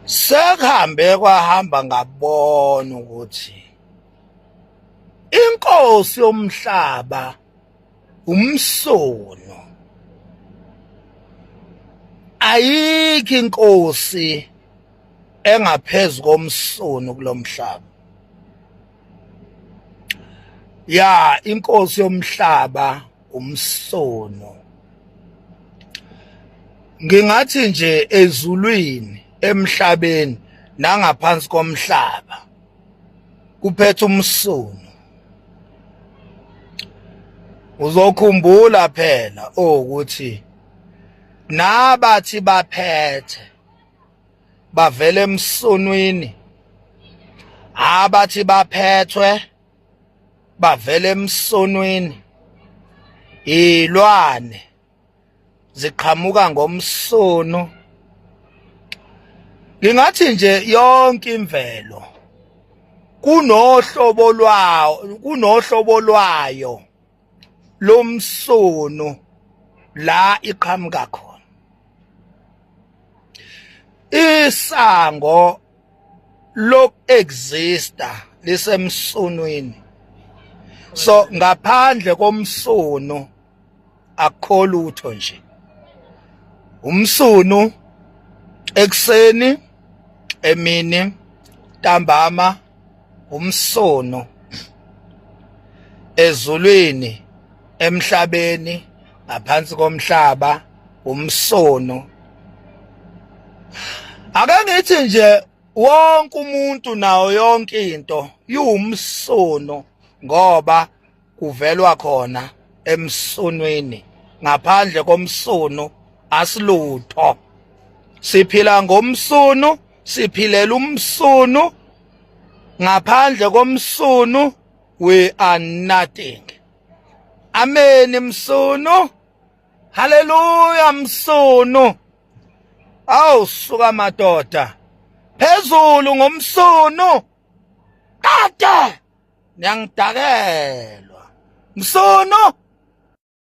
sekuhambe kwahamba ngabona ukuthi inkosi yomhlaba umsono ayikho inkosi engaphezulu komsono kulomhlaba ya inkosi yomhlaba umsono ngingathi nje ezulwini emhlabeni nangaphansi komhlaba kuphethe umsono uzokhumbula phela ukuthi nabathi baphethe bavele emsonwini abathi baphethwe bavele emsonwini ilwane ziqhamuka ngomsono ngingathi nje yonke imvelo kunohlobo lwayo kunohlobo lwayo lomsono la iqhamuka khona isango lok exista lisemsonweni so ngaphandle komsono akho lutho nje umsunu ekuseni emini ntambama umsono ezulwini emhlabeni ngaphansi komhlaba umsono ake ngithi nje wonke umuntu nawo yonke into iwumsono ngoba kuvelwa khona emsunwini ngaphandle komsunu asilutho siphila ngomsunu siphilela umsunu ngaphandle komsunu we are nothing amen msunu haleluya msunu awu suka madoda phezulu ngomsunu kade niyangidakelwa msono